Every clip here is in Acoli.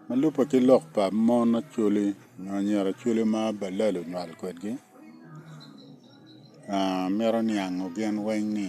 Ma lubbe ki lok pa mon Acholi nyo anyira Acholi ma balal onywal kwedgi mito niango gin weng ni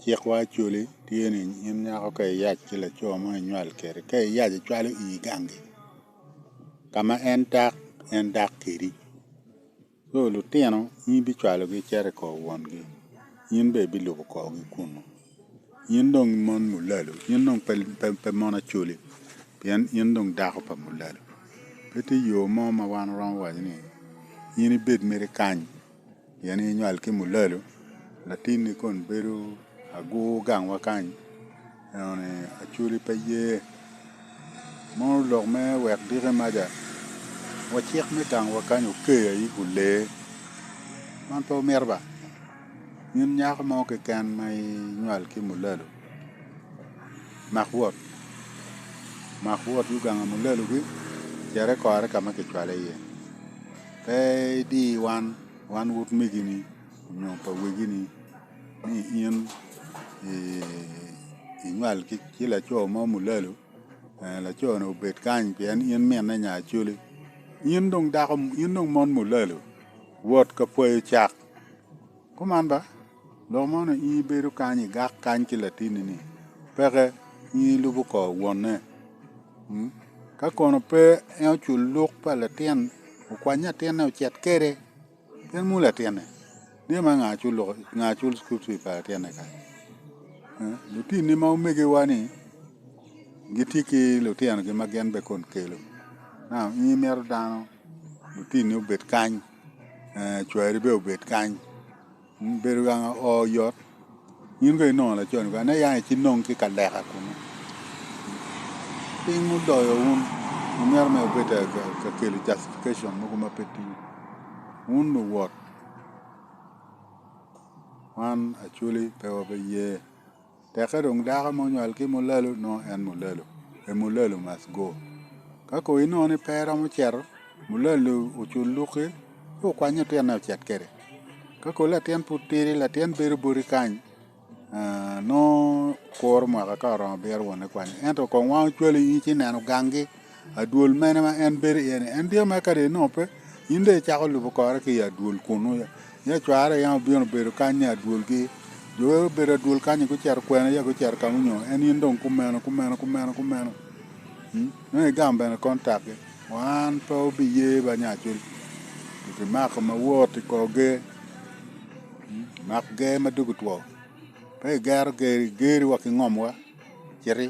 cikwa Acholi tye ni in nyako ka iyac ki laco mo inywal kwede ka iyac icwalo ii gangi ka ma en dak en dak kwedi. Lo lutino, in ibicwalogi icito i kor wongi, in bene ibilubo korgi kunnu. In dong mon mulalu, in dong pe mon acoli, pien in dong dako pa mulalu. Pe tye yo mo ma wan waromo waco ni in ibed mere kany, pien in inywal ki mulalu, latinni kono bedo agur gangwa kany. Eno ni Acholi pe ye mono lok me wek dike maca, wa cik me tangowa kany oker aye i kun lee. Man pe omito ba? In nyako mo keken ma inywal ki mulalu, mak wot, mak wot ki oganga mulalu gi, cet ikore ka ma kicwale iye. Pe idi wan, wan utmegini nyo pa wegini. ni in inywal ki laco mo mulalu, laco-ni obed kany pien in minne nya acoli, in dong dako in dong mon mulalu wot ka pwoyo cak, kuman ba lok mo ni in ibedo kany igak kany ki latinni-ni peke in ilubo kor wonne ka kono pe en ocul luk pa latin okwany latinne ocit kwede. Gin mulu latinne, dye ma nga acul loko, nga acul school fee pa latinne kany. Eh, Lutinni ma omegiwa ni gitye ki lutino gi ma gin be kon kelo. Now, in imito dano, lutinni obed kany, eh, cwari be obed kany. Bedo ganga oo oyot in kono inongo lacon kany ane yang ici nong ki kaleka kunu piny mudoyo wun imito mere wubed ka kelo justification mogo ma pe tye wun luwot wan Acholi pe wabiye. Tekke dong dako ma onywal ki mulalu nongo en mulalu, a mulalu must go. Ka kono inongo ni pe eromo cito, mulalu ocul luki ci okwany latinne ocit kwede. Ka kono latin pud tidi, latin bedo boti kany nongo kuro mwaka ka oromo bito wonne kwanyo. Ento kong wango cwalo in ci ineno gangi. Adwol mene ma en bedo iye-ni? En dyere mere kadi nongo pe, in dong icako lubo kore ki i adwol kunnu. Ya cwarre yam obino bedo kany ni adwolgi. Jo wek obedo adwol kanyi gucito kwene ya gucito ka ma onyongo en, in dong kumeno, kumeno, kumeno, kumeno. Nongo igam bene kontakgi. Wan pe wubiye ba nya acwiny. Gimako mawot i kor ger, mak ger ma dogi two. Pe igero geri, geri wa ki ngomwa, citi.